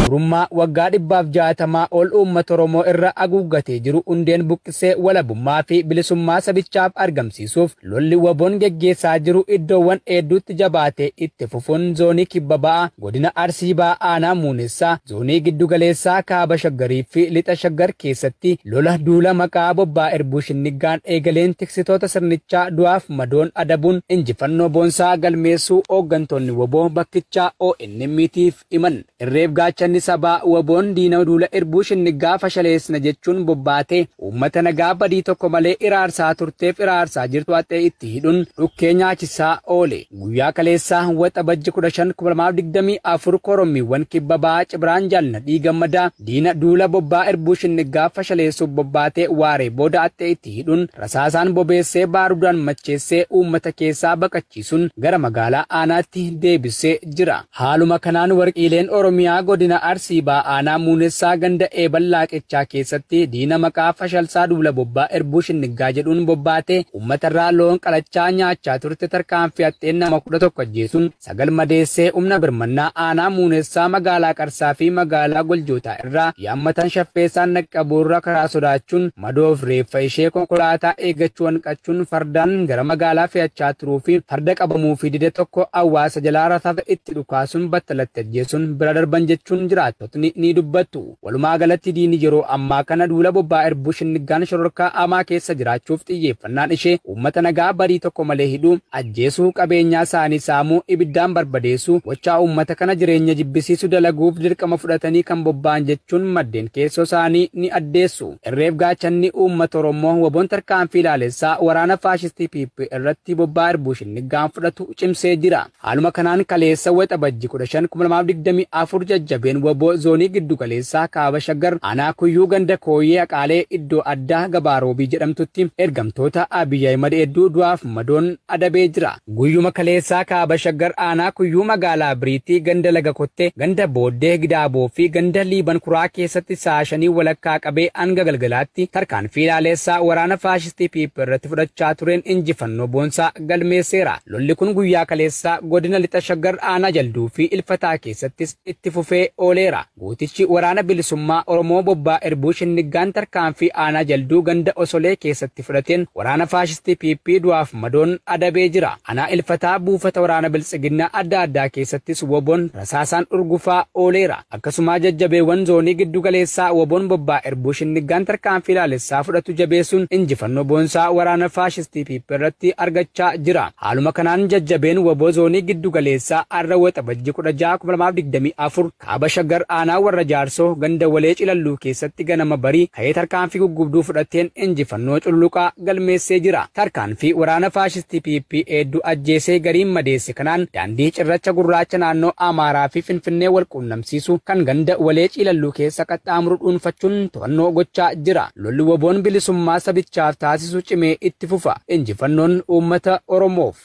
Gabrummaa waggaa dhibbaaf jaatamaa ol uummata Oromoo irra aguuggatee jiru hundeen buqqisee walabummaa fi bilisummaa sabichaaf argamsiisuuf lolli waboon geggeessaa jiru iddoowwan hedduutti jabaatee itti fufuun zoonii kibba ba'a godina Arsii ba'a aanaa Muunessaa Zoonii Giddu Galeessaa, Kaaba Shaggarii fi Lixa Shaggar keessatti lola duula maqaa Bobbaa Irbuu Shinniggaan eegaleen tiksitoota sirnichaa du'aaf madoon adabuun injifannoo boonsaa galmeessuu ooggantoonni wbo bakkichaa ONM'tiif himan. Irreef gaachanni sabaa wbo'n diina duula Irbuu Shinniggaa fashaleessina jechuun bobbaatee uummata nagaa badii tokko malee iraarsaa turteef iraarsaa jirtu haxxee itti hidhuun dhukkee nyaachisaa oole. Guyyaa kaleessaa Waxabajji 15,2024 korommiiwwan kibba bahaa Cibraan Jaal Nadhii Gammadaa diina duula bobbaa Irbuu Shinniggaa fashaleessuuf bobbaate waaree booda haxxee itti hidhuun rasaasaan bobeessee baarudaan macheessee uummata keessaa baqachiisuun gara magaalaa aanaatti deebissee jira. Haaluma kanaan warqiileen Oromiyaa godina Arsii Baha aanaa Muunessaa ganda Eebal Laaqechaa keessatti diina maqaa Fashalsaa Duula Bobbaa Irbuu Shinniggaa jedhuun bobbaatee uummatarraa loon qalachaa nyaachaa turte tarkaanfii haxxeen nama 11 ajjeesuun 9 madeessee humna birmannaa aanaa Muunessaa magaalaa Qarsaa fi magaalaa Goljootaa irraa yaammatan shaffeessaan dhaqqabuu irra karaa sodaachuun madoof reeffa ishee konkolaataa eeggachuu hanqachuun fardaan gara magaalaa fe'achaa turuu fi farda qabamuufii dide tokko awwaasa jalaa rasaasa itti dhukaasuun battalatti ajjeesuun bira darban jechuun jiraattotni ni dubbattu. Walumaa galatti diini yeroo ammaa kana duula bobbaa irbuu shinniggaan shororkaa amaa keessa jiraachuuf xiyyeeffannaan ishee Uummata nagaa badii tokko malee hidhuu, ajjeesuu, qabeenyaa isaanii saamuu, ibiddaan barbadeessuu, gochaa uummata kana jireenya jibbisiisu dalaguuf dirqama fudhatanii kan bobba'an jechuun maddeen keessoo isaanii ni addeessu. Irreef gaachanni uummata Oromoo wbon tarkaanfii laalessaa waraana faashistii PP irratti bobba'aa irbuushinniggaan fudhatu cimsee jira. Haaluma kanaan kaleessa Waxabajji 15,2024 jajjabeen wbo Zoonii Giddu Galeessaa Kaaba Shaggar Aanaa Kuyyuu Ganda Kooyyee Aqaalee iddoo addaa Gabaa Roobii jedhamtutti ergamtoota Abiy Ahimad hedduu du'aaf madoon adabee jira. Guyyuma kaleessaa Kaaba Shaggar Aanaa Kuyyuu Magaalaa Biriitti Ganda Laga Kottee, Ganda Booddee Gidaaboo fi Ganda Liiban Kuraa keessatti sa'a shanii walakkaa qabee hanga galgalaatti tarkaanfii laaleessaa waraana faashistii PP irratti fudhachaa tureen injifannoo boonsaa galmeesseera. Lolli kun guyyaa kaleessaa godina Lixa Shaggar aanaa Jalduu fi Ilfataa keessattis itti fufee ooleera. Gootichi Waraana Bilisummaa Oromoo Bobbaa Irbuu Shinniggaan tarkaanfii aanaa Jalduu ganda Osolee keessatti fudhateen waraana faashistii PP du'aaf madoon adabee jira. Anaa Ilfataa buufata waraana Biltsiginnaa adda addaa keessattis wbon rasaasaan urgufaa ooleera. Akkasumaa jajjabeewwan zoonii giddu galeessaa wbon bobbaa Irbuu Shinniggaan tarkaanfii laalessaa fudhatu jabeessuun injifannoo boonsaa waraana faashistii PP irratti argachaa jira. Haaluma kanaan jajjabeen wbo zoonii giddu galeessaa arra Waxabajji 16, 2024 Kaaba Shaggar aanaa Warra Jaarsoo ganda Walee Cilalluu keessatti ganama barii ka'ee tarkaanfii guggubduu fudhateen injifannoo cululuqaa galmeessee jira. Tarkaanfii waraana faashistii PP heedduu ajjeesee gariin madeesse. hojjete kanaan daandii cirracha gurraacha naannoo Amaaraa fi Finfinnee wal quunnamsiisu kan ganda Walee Ciilalluu keessa qaxxaamuru dhuunfachuun to'annoo gochaa jira. Lolli wbo-n bilisummaa sabichaaf taasisu cimee itti fufa. Injifannoon uummata Oromoof!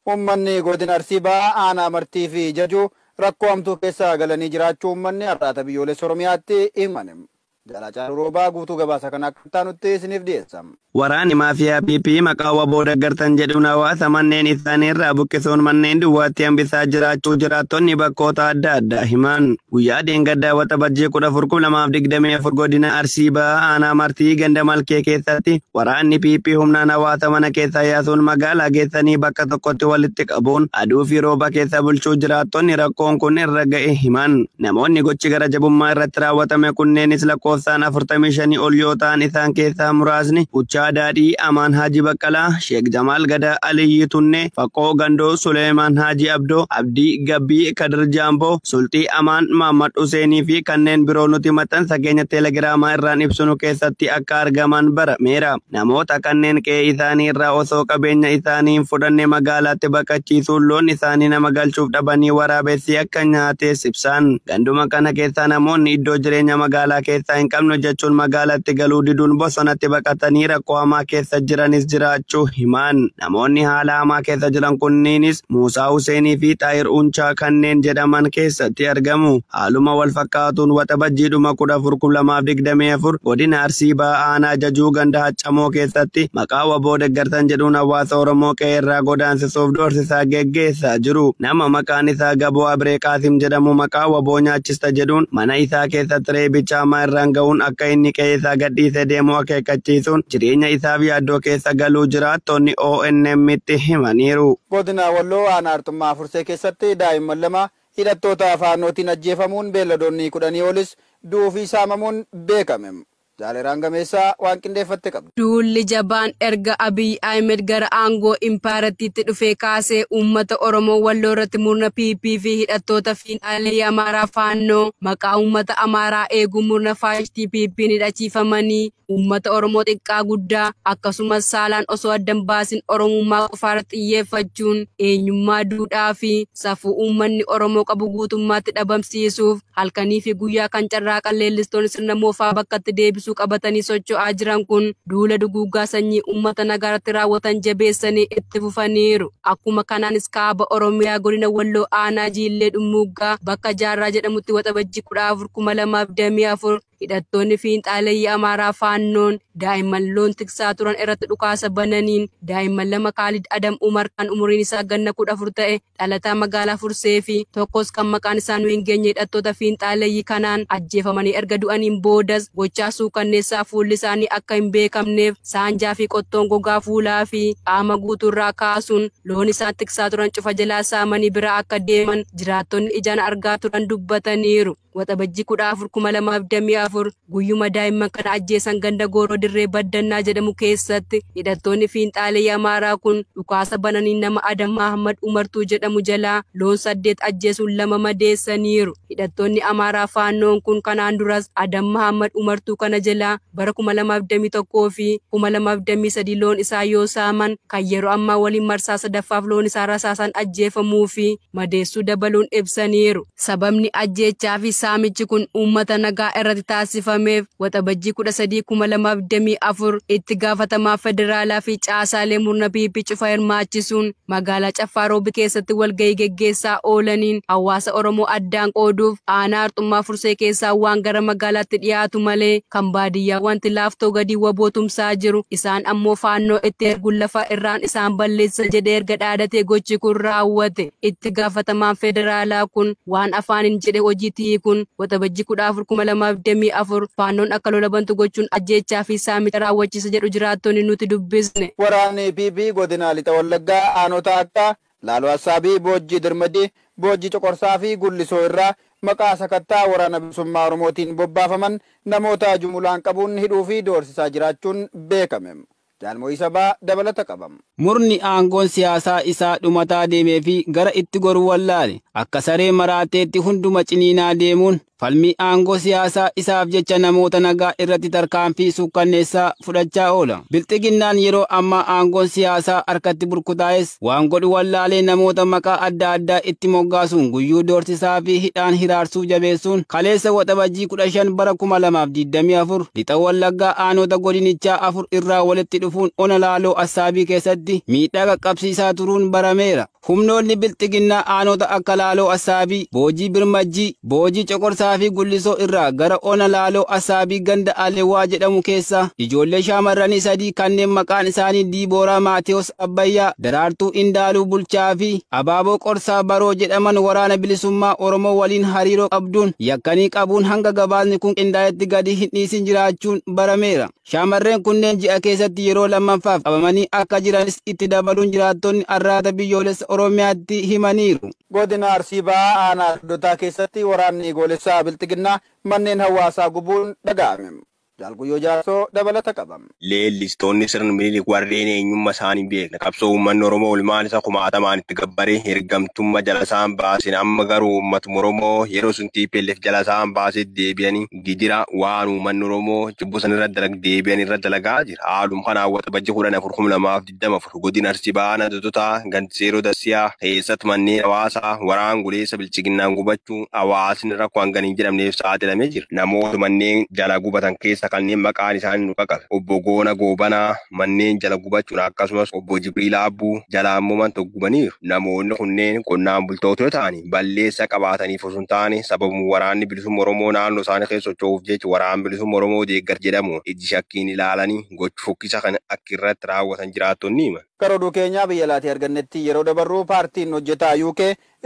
Uummanni Godina Arsii Bahaa Aanaa Martii fi Jajuu rakkoo hamtuu keessa galanii jiraachuu uummanni Arraata Biyyoolessa Oromiyaatti himan. Jaal Haacaaluu Roobaa guutuu gabaasa kanaa akka itti aanutti isiniif dhiyeessa. Waraanni maafiyaa PP maqaa wbo deggartan jedhuun hawaasa manneen isaanii irraa buqqisuun manneen duwwaatti hambisaa jiraachuu jiraattonni bakkoota adda addaa himan. Guyyaa dheengaddaa Waxabajjii 14,2024 godina Arsii Bahaa aanaa Martii ganda Malkee keessatti waraanni PP humnaan hawaasa mana keessaa yaasuun magaalaa geessanii bakka tokkotti walitti qabuun aduu fi rooba keessa bulchuu jiraattonni rakkoon kun irra ga'e himan. Namoonni gochi gara jabummaa irratti raawwatame kunneenis lakkoofsaan 45 ol yoo ta'an isaan keessaa muraasni Buchaa Daadhii, Amaan Haaji Baqqalaa, Sheek Jamaal Gadaa, Aliyyi Tunnee, Faqqoo Gandoo, Suleeymaan Haaji Abdoo, Abdii Gabbii, Kadir Jaamboo, Sulxii Amaan, Maammad Huseenii fi kanneen biroo nuti maxxansa keenya teelegiraamaa irraan ibsinu keessatti akka argaman barameera. Namoota kanneen qe'ee isaanii irraa osoo qabeenya isaanii hin fudhanne magaalaatti baqachiisuun loon isaanii nama galchuuf dhabanii waraabessi akka nyaatees ibsan. Ganduma kana keessaa namoonni iddoo jireenya magaalaa keessaa hin qabnu jechuun magaalatti galuu diduun bosonatti baqatanii rakkoo hamaa keessa jiranis jiraachuu himan. Namoonni haala hamaa keessa jiran kunniinis Muusaa Huseenii fi Xaahir Unchaa kanneen jedhaman keessatti argamu. Haaluma wal fakkaatuun Waxabajjii dhuma 14,2024 godina Arsii Bahaa aanaa Jajuu ganda Haccamoo keessatti maqaa wbo deggartan jedhuun hawaasa Oromoo qe'ee irraa godaansisuuf doorsisaa geggeessaa jiru. Nama maqaan isaa Gaboo Abree Qaasim jedhamu maqaa wbo nyaachista jedhuun mana isaa keessatti reebicha hamaa irraan gahuun akka inni qe'ee isaa gadhiisee deemu akeekkachiisuun jireenya isaaf yaaddoo keessa galuu jiraattonni ONM'tti himaniiru. Godina Walloo aanaa Arxummaa Fursee keessatti daa'imman lama Hidhattoota Faannootiin ajjeefamuun beelladoonni kudhanii olis du'uu fi saamamuun beekame. Jaal Eraan Gameessaa waan qindeeffatte qabdi. Duulli jabaan erga Abiy Ahimed gara aangoo impaayerattiitti dhufee kaasee uummata Oromoo Walloorratti murna PP fi hidhattoota fiinxaaleeyyii Amaaraa Faannoo maqaa uummata Amaaraa eeguun murna faashistii PP'n hidhachiifamanii Uummata Oromoo xiqqaa guddaa akkasumas saalaan osoo adda hin baasin Oromummaa qofaarratti xiyyeeffachuun eenyummaa, duudhaa fi safuu uummanni Oromoo qabu guutummaatti dhabamsiisuuf halkanii fi guyyaa kan carraaqan leellistoonni sirna moofaa bakkatti deebisuu qabatanii socho'aa jiran kun duula duguuggaa sanyii uummata nagaarratti raawwatan jabeessanii itti fufaniiru. Akkuma kanaanis Kaaba Oromiyaa Godina Walloo Aanaa Jiillee Dhummuuggaa bakka Jaarraa jedhamutti Waxabajjii 14, 2024 Hidhattoonni fiinxaaleyyii Amaaraa Faannoon daa'imman loon tiksaa turan irratti dhukaasa bananiin daa'imman lama Kaalid Adam Umar kan umuriin isaa ganna 14 ta'e dhalataa magaalaa Fursee fi tokkos kan maqaan isaa nu hin geenye hidhattoota fiinxaaleyyii kanaan ajjeefamanii erga du'aniin boodas gochaa suukanneessaa fuulli isaanii akka hin beekamneef saanjaa fi qottoon gogaa fuulaa fi qaama guutuu irraa kaasuun loon isaan tiksaa turan cufa jalaa saamanii biraa akka deeman jiraattonni ijaan argaa turan dubbataniiru. Waxabajjii 14,2024 guyyuma daa'imman kana ajjeesan ganda Gooroo Dirree Baddannaa jedhamu keessatti hidhattoonni fiinxaaleeyii Amaaraa kun dhukaasa bananiin nama Adam Mahammad Umartuu jedhamu jalaa loon 8 ajjeesuun 2 madeessaniiru. Hidhattoonni Amaaraa Faannoon kun kanaan duras Adam Mahammad Umartuu kana jalaa bara 2021 fi 2023 loon isaa yoo saaman kan yeroo ammaa waliin marsaa sadaffaaf loon isaa rasaasaan ajjeefamuu fi madeessuu dabaluun ibsaniiru. Sababni ajjeechaa fi saamichi kun uummata nagaa irratti taasifameef Waxabajjii 13, 2024 itti gaafatamaa federaalaa fi caasaalee murna PP cufa hirmaachisuun magaalaa Caffaa Roobi keessatti walgahii geggeessaa oolaniin hawaasa Oromoo addaan qooduuf aanaa Arxummaa Musee keessaa waan gara magaalaatti dhiyaatu malee kan baadiyyaa wanti Laaftoo gadii wbo tumsaa jiru isaan ammoo faannoo itti erguun lafa irraan isaan balleessisa jedhee erga dhaadatee gochi kun raawwate. Itti gaafatamaan federaalaa kun waan afaaniin jedhe hojiitti hiikuun Waxabajjii 14,2024 faannoon akka lola bantu gochuun ajjeechaa fi saamicha raawwachiisa jedhu jiraattonni nuti dubbisne. Waraanni PP godina Lixa Wallaggaa aanota akka Laaloo Assaabii, Boojjii Dirmadii, Boojjii Coqorsaa fi Gullisoo irraa maqaa sakatta'a Waraana Bilisummaa Oromootiin bobbaafaman namoota jumulaan qabuun hidhuu fi doorsisaa jiraachuun beekame. Jaal Mo'ii Sabaa dabalata qaba. Murni aangoon siyaasaa isaa dhumataa deemee fi gara itti goru wallaale akka saree maraateetti hunduma ciniinaa deemuun Falmii aangoo siyaasaa isaaf jecha namoota nagaa irratti tarkaanfii suukkanneessaa fudhachaa oola. Bilxiginnaan yeroo ammaa aangoon siyaasaa harkatti burkutaa'es waan godhu wallaalee namoota maqaa adda addaa itti moggaasuun guyyuu doorsisaa fi hidhaan hiraarsuu jabeessuun kaleessa Waxabajjii 15 bara 2024 Lixa Wallaggaa aanoota godinichaa afur irraa walitti dhufuun ona Laaloo Assaabii keessatti miidhaa qaqqabsiisaa turuun barameera. Humnoonni Bilxiginnaa Aanoota akka Laaloo Assaabii, Boojii Birmajjii, Boojii Coqorsaa fi Gullisoo irraa gara Ona Laaloo Assaabii ganda Alewwaa jedhamu keessaa ijoollee shaamarranii sadii kanneen maqaan isaanii Diibooraa Maatewos Abbayyaa, Daraartuu Indaaluu Bulchaa fi Abaaboo Qorsaa Baroo jedhaman Waraana Bilisummaa Oromoo waliin hariiroo qabduun yakkanii qabuun hanga gabaasni kun qindaa'etti gadi hin dhiisin jiraachuun barameera. Shaamarreen kunneen ji'a keessatti yeroo lammaffaaf qabamanii akka jiranis itti dabaluun jiraattonni Arraata Biyyoolessa Oromiyaatti himaniiru. Godina Arsii Bahaa Aanaa Doddotaa keessatti waraanni goolessaa Bilxiginnaa manneen hawaasaa gubuun dhaga'ame. Jaal Guyyoo Jaarsoo dabalata qaba. Leellistoonni sirna Minilik warreen eenyumma isaan hin beekne qabsoo uummanni Oromoo ilmaan isa kumaatamaan itti gabbare ergamtumma jala isaan baasen amma garuu uummatuma Oromoo yeroo sun tplf jala isaan baasetti deebi'anii gijira waan uummanni Oromoo jibbuu san irra dalag deebi'an irra dalagaa jira. Haalum kanaan Waxabajji 14,2024 godina Arsii Bahaa Aanaa Dodotaa ganda Seeroo Dassiyaa keessatti manneen hawaasaa waraan guleessa bilchiginnaan gubachuu hawaasni rakkoo hangana hin jedhamneef saaxilamee jira. Namoota manneen jala gubatan keessa kanneen maqaan isaanii nu qaqabe Obbo Goona Goobanaa manneen jala gubachuun akkasumas Obbo Jibriil Aabbuu jala ammoo man tokko gubaniiru. Namoonni kunneen qonnaan bultoota yoo ta'an, balleessaa qabaataniif osoo hin taane sababuma Waraanni Bilisumma Oromoo naannoo isaanii keessa socho'uuf jecha Waraana Bilisumma Oromoo deeggarti jedhamuun ijji shakkiin ilaalanii gocha fokkisaa kana akka irratti raawwatan jiraattonni himan. Gara oduu keenya biyya alaatii argannetti yeroo dabarru paartiin hojjetaa UK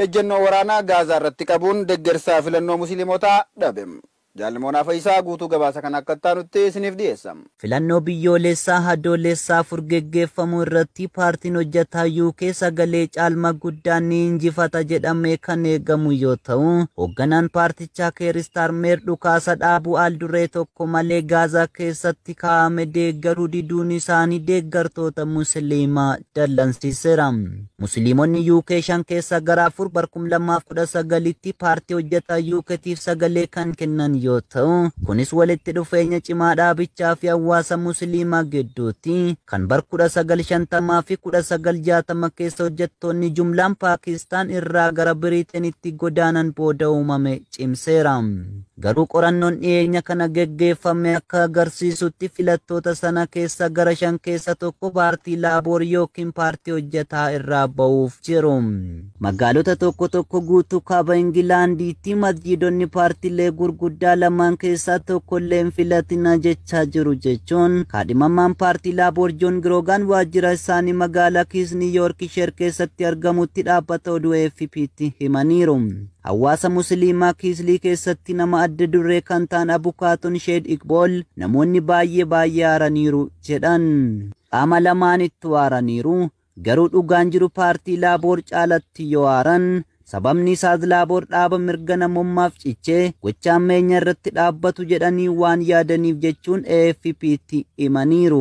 ejjennoo waraanaa Gaazaa irratti qabuun deggersa filannoo Musiliimotaa dhabe. Jaal Moonaa Fayisaa guutuu gabaasa kana akka itti aanutti isiniif dhiyeessa. Filannoo biyyooleessaa Adoolessa 4 geggeeffamu irratti paartiin hojjataa UK sagalee caalma guddaan ni injifata jedhamee kan eegamu yoo ta'u, hogganaan paartichaa Keer Istaarmeer dhukaasa dhaabuu aal-duree tokko malee Gaazaa keessatti kaa'ame deeggaruu diduun isaanii deeggartoota Musiliimaa dallansiiseera. Musiliimonni UK shan keessaa gara afur bara 2019tti paartii hojjetaa UKtiif sagalee kan kennan yoo ta'u, kunis walitti dhufeenya cimaa dhaabichaa fi hawaasa Musiliimaa gidduuti. Kan bara 1950 fi 1960 keessa hojjettoonni jumlaan Paakistaan irraa gara Biriiteenitti godaanan booda uumame cimseera. Garuu qorannoon dhiyeenya kana geggeeffame akka agarsiisutti filattoota sana keessa gara shan keessa tokko paartii Laaboor yookiin paartii hojjetaa irraa ba'uuf jiru. Magaalota tokko tokko guutuu kaaba Ingilaandiitti masjiidonni paartilee gurguddaa lamaan keessaa tokko illee hin filatina jechaa jiru jechuun kaadhimamaan paartii Laaboor Joon Giroogaan waajjira isaanii magaalaa Kiisni Yoorkisheer keessatti argamutti dhaabbata oduu AFPtti himaniiru. Hawaasa Musiliimaa Kiislii keessatti nama adda duree kan ta'an Abukaatoon Sheed Iqbool namoonni baay'ee baay'ee aaraniiru jedhan. Qaama lamaanittuu aaraniiru. Garuu dhugaan jiru paartii Laaboor caalatti yoo aaran, sababni isaas Laaboor dhaaba mirga namommaaf ciche, gocha hammeenya irratti dhaabbatu jedhanii waan yaadaniif jechuun AFP'tti himaniiru.